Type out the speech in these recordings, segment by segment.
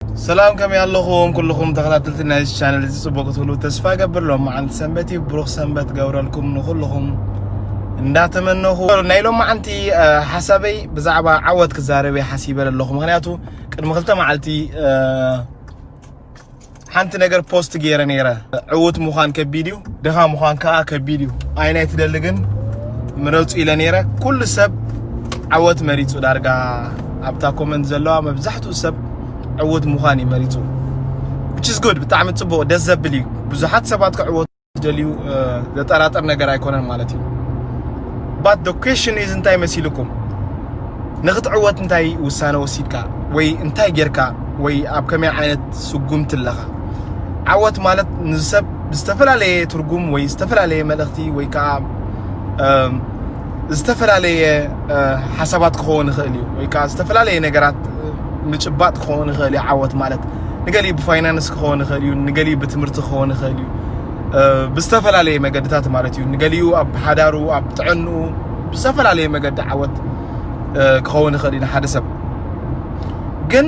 ሰላም ከመይ ኣለኹም ኩልኹም ተኸታተልቲ ናይዚ ቻነል እዚ ጽቡቕ ክትህሉ ተስፋ ገብር ሎም መዓልቲ ሰንበት እዩ ብሩኽ ሰንበት ገብረልኩም ንኹልኹም እንዳተመነኹ ናይ ሎም መዓንቲ ሓሳበይ ብዛዕባ ዓወት ክዛረብ ሓሲበ ኣለኹ ምክንያቱ ቅድሚ ክልተ መዓልቲ ሓንቲ ነገር ፖስት ገይረ ነይረ ዕውት ምዃን ከቢድ እዩ ድኻ ምዃን ከኣ ከቢድ እዩ ኣይናይ ትደሊ ግን ምረጹ ኢለ ነይረ ኩሉ ሰብ ዓወት መሪጹ ዳርጋ ኣብታ ኮመንት ዘለዋ መብዛሕትኡ ሰብ ዕውት ምዃን እዩ መሪጹ which is good ብጣዕሚ ጽቡቅ ደስ ዘብል እዩ ብዙሓት ሰባት ክዕወቱ ደልዩ ዘጠራጥር ነገር ኣይኮነን ማለት እዩ but the question is እንታይ መሲልኩም ንክትዕወት እንታይ ውሳነ ወሲድካ ወይ እንታይ ጌርካ ወይ ኣብ ከመይ ዓይነት ስጉምቲ ኣለኻ። ዓወት ማለት ንሰብ ዝተፈላለየ ትርጉም ወይ ዝተፈላለየ መልእኽቲ ወይ ከዓ ዝተፈላለየ ሓሳባት ክኸውን ይኽእል እዩ ወይ ከዓ ዝተፈላለየ ነገራት ምጭባጥ ክኸውን ይኽእል እዩ ዓወት ማለት ንገሊ ብፋይናንስ ክኸውን ይኽእል እዩ ንገሊ ብትምህርቲ ክኸውን ይኽእል እዩ ብዝተፈላለየ መገድታት ማለት እዩ ንገሊኡ ኣብ ሓዳሩ ኣብ ጥዕንኡ ብዝተፈላለየ መገዲ ዓወት ክኸውን ይኽእል እዩ ንሓደ ሰብ ግን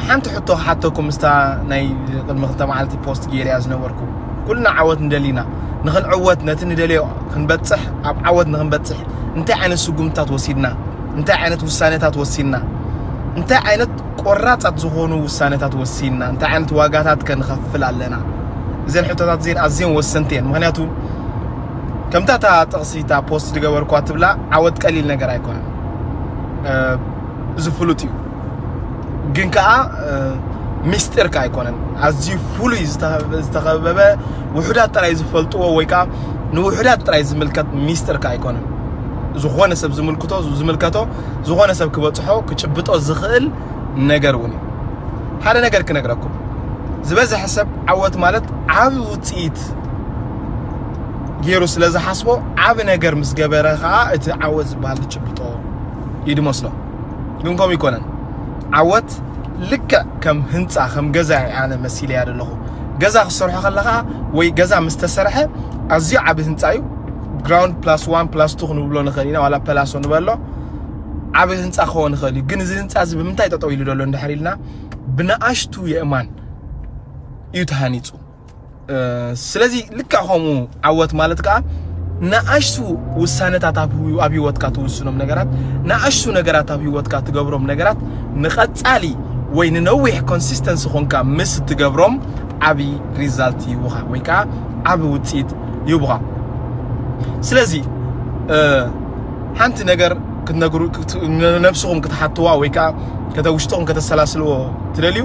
ሓንቲ ሕቶ ክሓተኩም ምስታ ናይ ቅድሚ ክልተ መዓልቲ ፖስት ገይርያ ዝነበርኩ ኩልና ዓወት ንደሊና ንክንዕወት ነቲ ንደልዮ ክንበፅሕ ኣብ ዓወት ንክንበፅሕ እንታይ ዓይነት ስጉምትታት ወሲድና እንታይ ዓይነት ውሳኔታት ወሲድና እንታይ ዓይነት ቆራፃት ዝኾኑ ውሳኔታት ወሲድና እንታይ ዓይነት ዋጋታት ከንኸፍል ኣለና እዘን ሕቶታት እዚን ኣዝየን ወሰንቲ እየን ምክንያቱ ከምታ እታ ጥቕሲ እታ ፖስት ዝገበርኳ ትብላ ዓወት ቀሊል ነገር ኣይኮነን እዚ ፍሉጥ እዩ ግን ከዓ ሚስጢር ከዓ ኣይኮነን ኣዝዩ ፍሉይ ዝተኸበበ ውሑዳት ጥራይ ዝፈልጥዎ ወይ ከዓ ንውሑዳት ጥራይ ዝምልከት ሚስጢር ከዓ ኣይኮነን ዝኾነ ሰብ ዝምልክቶ ዝምልከቶ ዝኾነ ሰብ ክበፅሖ ክጭብጦ ዝኽእል ነገር እውን እዩ ሓደ ነገር ክነግረኩም ዝበዝሐ ሰብ ዓወት ማለት ዓብ ውፅኢት ገይሩ ስለ ዝሓስቦ ዓብ ነገር ምስ ገበረ ከዓ እቲ ዓወት ዝበሃል ትጭብጦ እዩ ድመስሎ ግን ከምኡ ይኮነን ዓወት ልክዕ ከም ህንፃ ከም ገዛ ኣነ መሲለ እያ ዘለኹ ገዛ ክሰርሖ ከለኻ ወይ ገዛ ምስ ተሰርሐ ኣዝዩ ዓብ ህንፃ እዩ ግራውንድ ፕላስ ዋን ፕላስ ቱ ክንብሎ ንኽእል ኢና ዋላ ፐላሶ ንበሎ ዓብ ህንፃ ክኸውን ይኽእል እዩ ግን እዚ ህንፃ እዚ ብምንታይ ጠጠው ኢሉ ዘሎ እንድሕር ኢልና ብንኣሽቱ የእማን እዩ ተሃኒፁ ስለዚ ልክዕ ከምኡ ዓወት ማለት ከዓ ንኣሽቱ ውሳነታት ኣብ ህይወትካ ትውስኖም ነገራት ንኣሽቱ ነገራት ኣብ ህይወትካ ትገብሮም ነገራት ንቐጻሊ ወይ ንነዊሕ ኮንሲስተንሲ ኾንካ ምስ እትገብሮም ዓብዪ ሪዛልት ይህቡኻ ወይ ከዓ ዓብ ውፅኢት ይህቡኻ ስለዚ ሓንቲ ነገር ክትነግሩ ነብስኹም ክትሓትዋ ወይ ከዓ ከተውሽጥኹም ከተሰላስልዎ ትደልዩ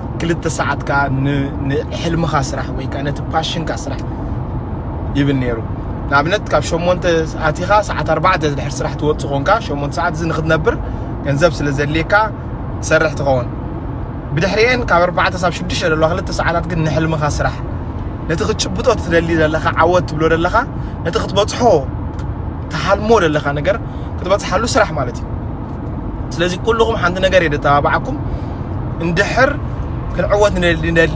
ክልተ ሰዓት ከኣ ንሕልምኻ ስራሕ ወይ ከኣ ነቲ ፓሽንካ ስራሕ ይብል ነይሩ ንኣብነት ካብ ሸሞንተ ኣቲኻ ሰዓት ኣርባዕተ ድሕር ስራሕ ትወፅእ ኮንካ ሸሞንተ ሰዓት እዚ ንክትነብር ገንዘብ ስለ ዘድልየካ ትሰርሕ ትኸውን ብድሕሪኤን ካብ ኣርባዕተ ሳብ ሽዱሽተ ዘለዋ ክልተ ሰዓታት ግን ንሕልምኻ ስራሕ ነቲ ክትጭብጦ ትደሊ ዘለኻ ዓወት ትብሎ ዘለኻ ነቲ ክትበፅሖ ትሓልሞ ዘለኻ ነገር ክትበፅሓሉ ስራሕ ማለት እዩ ስለዚ ኩሉኹም ሓንቲ ነገር እየ ዘተባብዓኩም እንድሕር ክንዕወት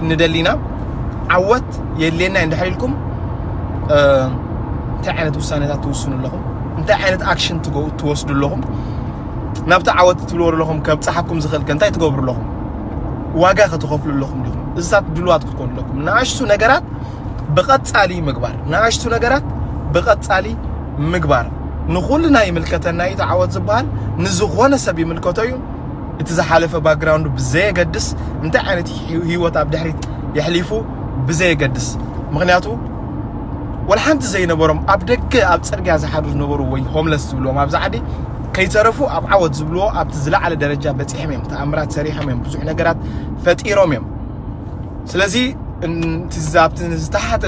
ንደሊና ዓወት የድልየና እንድሕር ኢልኩም እንታይ ዓይነት ውሳኔታት ትውስኑ ኣለኹም እንታይ ዓይነት ኣክሽን ትወስዱ ኣለኹም ናብቲ ዓወት ትብልዎ ኣለኹም ከብፅሓኩም ዝኽእል ከ እንታይ ትገብሩ ኣለኹም ዋጋ ከትኸፍሉ ኣለኹም ዲኹም እዚታት ድልዋት ክትኮኑ ኣለኩም ንኣሽቱ ነገራት ብቐጻሊ ምግባር ንኣሽቱ ነገራት ብቐጻሊ ምግባር ንኹልና ይምልከተና እዩ። ተዓወት ዝበሃል ንዝኾነ ሰብ ይምልከቶ እዩ። እቲ ዝሓለፈ ባክግራውንዱ ብዘየገድስ እንታይ ዓይነት ህይወት ኣብ ድሕሪት የሕሊፉ ብዘየገድስ ምክንያቱ ወላ ሓንቲ ዘይነበሮም ኣብ ደገ ኣብ ፅርግያ ዝሓድሩ ዝነበሩ ወይ ሆምለስ ዝብልዎም ኣብዚ ዓዲ ከይተረፉ ኣብ ዓወት ዝብልዎ ኣብቲ ዝለዓለ ደረጃ በፂሖም እዮም ተኣምራት ሰሪሖም እዮም ብዙሕ ነገራት ፈጢሮም እዮም ስለዚ ኣብቲ ዝተሓተ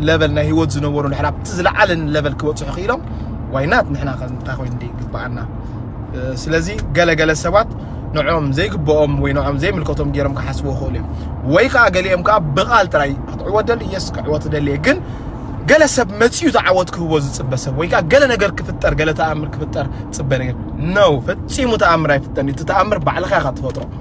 ለበል ናይ ህይወት ዝነበሩ ንሕና ኣብቲ ዝለዓለ ለበል ክበፅሑ ክኢሎም ዋይናት ንሕና እንታይ ኮይኑ ይግብኣና ስለዚ ገለገለ ሰባት ንዕኦም ዘይግብኦም ወይ ንዕኦም ዘይምልከቶም ገይሮም ክሓስቡ ይኽእሉ እዮም ወይ ከዓ ገሊኦም ከዓ ብቓል ጥራይ ክትዕወት ደሊ የስ ክዕወት ደልየ ግን ገለ ሰብ መፅኡ ዝዓወት ክህቦ ዝፅበ ሰብ ወይ ከዓ ገለ ነገር ክፍጠር ገለ ተኣምር ክፍጠር ፅበ ነገር ነው ፈፂሙ ተኣምር ኣይፍጠን እቲ ተኣምር ባዕልኻ ኢኻ ትፈጥሮ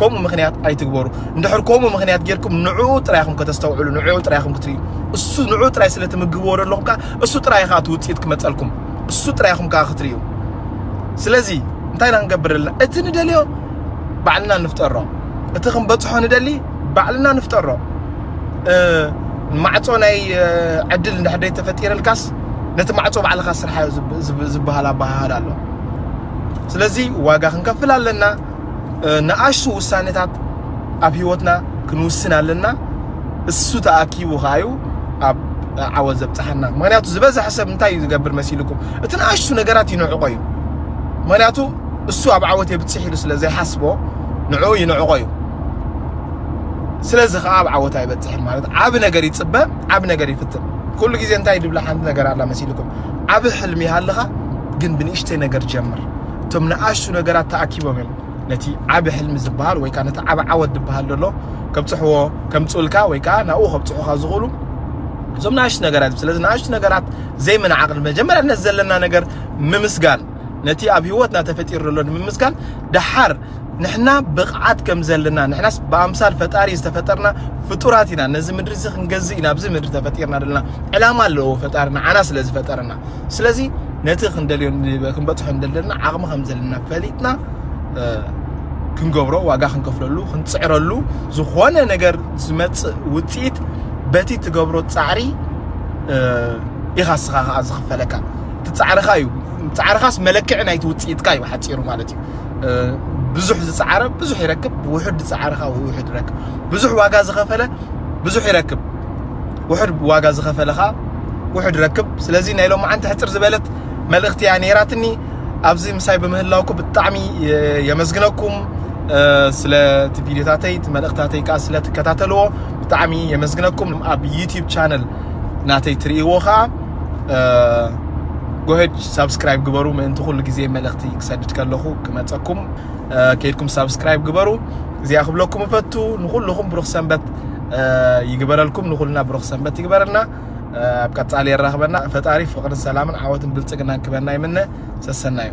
ከምኡ ምክንያት ኣይትግበሩ እንድሕር ከምኡ ምክንያት ጌርኩም ንዑ ጥራይ ኢኹም ከተስተውዕሉ ንዑ ጥራይ ኢኹም ክትርእዩ እሱ ንዑ ጥራይ ስለ ትምግብዎ ዘለኹም ከዓ እሱ ጥራይ ከዓ እቲ ውፅኢት ክመፀልኩም እሱ ጥራይ ኢኹም ከዓ ክትርእዩ ስለዚ እንታይ ኢና ክንገብር ዘለና እቲ ንደልዮ ባዕልና ንፍጠሮ እቲ ክንበፅሖ ንደሊ ባዕልና ንፍጠሮ ማዕፆ ናይ ዕድል እንድሕር ተፈጢረልካስ ነቲ ማዕፆ ባዕልካ ስርሓዮ ዝበሃል ኣበሃህላ ኣሎ ስለዚ ዋጋ ክንከፍል ኣለና ንኣሽቱ ውሳኔታት ኣብ ህይወትና ክንውስን ኣለና እሱ ተኣኪቡ ከኣ እዩ ኣብ ዓወት ዘብጽሓና ምክንያቱ ዝበዝሐ ሰብ እንታይ እዩ ዝገብር መሲልኩም እቲ ንኣሽቱ ነገራት ይንዕቆ እዩ ምክንያቱ እሱ ኣብ ዓወት የብጽሕ ኢሉ ስለ ዘይሓስቦ ንዕኡ ይንዕቆ እዩ ስለዚ ከዓ ኣብ ዓወት ኣይበጽሕን ማለት ዓብ ነገር ይጽበ ዓብ ነገር ይፍትን ኩሉ ግዜ እንታይ ድብላ ሓንቲ ነገር ኣላ መሲልኩም ዓብ ሕልሚ ሃልኻ ግን ብንእሽተይ ነገር ጀምር እቶም ንኣሽቱ ነገራት ተኣኪቦም እዮም ነቲ ዓብ ሕልሚ ዝበሃል ወይ ከዓ ነቲ ዓብ ዓወት ዝበሃል ዘሎ ከብፅሕዎ ከምፅኡልካ ወይ ከዓ ናብኡ ከብፅሑካ ዝኽእሉ እዞም ንኣሽቱ ነገራት ስለዚ ንኣሽቱ ነገራት ዘይምንዓቕል መጀመርያ ነዚ ዘለና ነገር ምምስጋን ነቲ ኣብ ህይወትና ተፈጢሩ ዘሎ ንምምስጋን ደሓር ንሕና ብቕዓት ከም ዘለና ንሕናስ ብኣምሳል ፈጣሪ ዝተፈጠርና ፍጡራት ኢና ነዚ ምድሪ እዚ ክንገዝእ ኢና ኣብዚ ምድሪ ተፈጢርና ዘለና ዕላማ ኣለዎ ፈጣሪ ንዓና ስለ ዝፈጠረና ስለዚ ነቲ ክንደልዮ ክንበፅሖ እንደለና ዓቕሚ ከም ዘለና ፈሊጥና ክንገብሮ ዋጋ ክንከፍለሉ ክንፅዕረሉ ዝኾነ ነገር ዝመፅእ ውፅኢት በቲ ትገብሮ ፃዕሪ ኢኻ ስኻ ከዓ ዝኽፈለካ እቲ ፃዕርኻ እዩ ፃዕርኻስ መለክዒ ናይቲ ውፅኢትካ እዩ ሓፂሩ ማለት እዩ ብዙሕ ዝጸዓረ ብዙሕ ይረክብ፣ ውሑድ ዝጸዓረ ከዓ ውሑድ ይረክብ። ብዙሕ ዋጋ ዝኸፈለ ብዙሕ ይረክብ፣ ውሑድ ዋጋ ዝኸፈለ ከዓ ውሑድ ይረክብ። ስለዚ ናይ ሎም መዓንቲ ሕፅር ዝበለት መልእኽቲ እያ ነይራትኒ። ኣብዚ ምሳይ ብምህላውኩ ብጣዕሚ የመስግነኩም። ስለ እቲ ቪዲዮታተይ እቲ መልእኽታተይ ከዓ ስለ ትከታተልዎ ብጣዕሚ የመስግነኩም። ኣብ ዩቲዩብ ቻነል ናተይ ትርእይዎ ከዓ ጎሄድ ሳብስክራይብ ግበሩ ምእንቲ ኩሉ ግዜ መልእኽቲ ክሰድድ ከለኹ ክመፀኩም ከይድኩም ሳብስክራይብ ግበሩ እዚኣ ክብለኩም እፈቱ ንኩልኹም ብሩኽ ሰንበት ይግበረልኩም ንኩልና ብሩኽ ሰንበት ይግበረልና ኣብ ቀፃሊ የራኽበና ፈጣሪ ፍቕርን ሰላምን ዓወትን ብልፅግናን ክበና ይምነ ሰሰናዩ